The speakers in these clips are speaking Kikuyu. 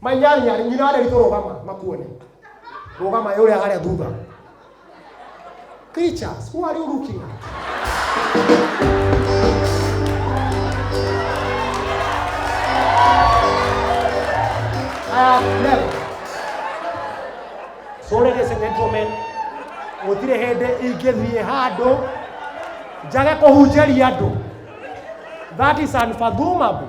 My nyarĩ nyarĩ nyina wa Nderitũ rũgama makuone. Rũgama ĩ ũrĩa harĩa thutha. Creatures, who are you looking at? I have never. So ladies and gentlemen, gũtirĩ hĩndĩ ingĩthiĩ handũ njage kũhunjĩria andũ. That is unfathomable.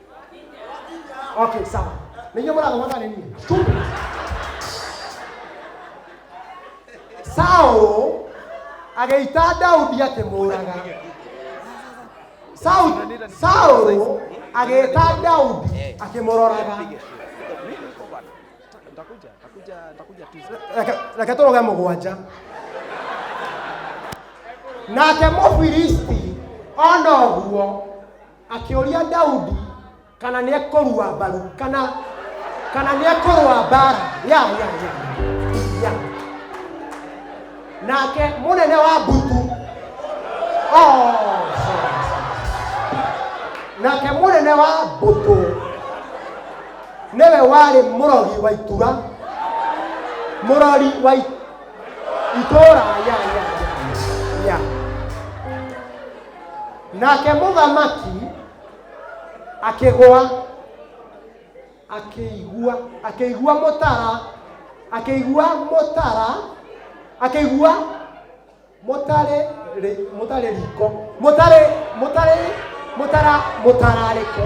okay sawa ninyo muraga mwathane niĩ stupid saũ agĩita daudi akĩmũraga saũ saũ agĩĩta daudi akĩmũroraga Nitakuja, nitakuja, nitakuja Tuesday. Reke- reke tå roge må gwanja nake må filisti ona å guo Akĩũria Daudi kana nĩ ekũrua mbaru kana kana nĩ ekũrũa mbara ya ya ya ya nake mũnene wa mbutu oh, sorry, sorry. nake mũnene wa mbũtũ nĩwe warĩ mũrori wa itura mũrori wa i- itũũra ya ya ya ya nake mũthamaki akĩgwa akĩigua akĩigua mũtara akĩigua mũtara akĩigua mũtarĩ rĩ- mũtarĩ riko mũtarĩ mũtarĩ mũtara mũtararĩko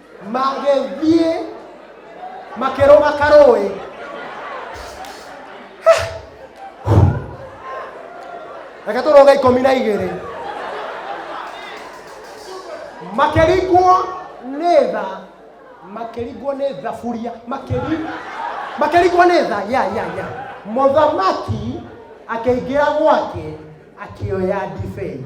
magĩthiĩ makĩrũga karũĩ reke tũrũge ikũmi na igĩrĩ makĩringwo nĩ tha makĩringwo nĩ thaburia makĩri- makĩringwo nĩ tha ya ya ya mũthamaki akĩingĩra gwake akĩoya ndibei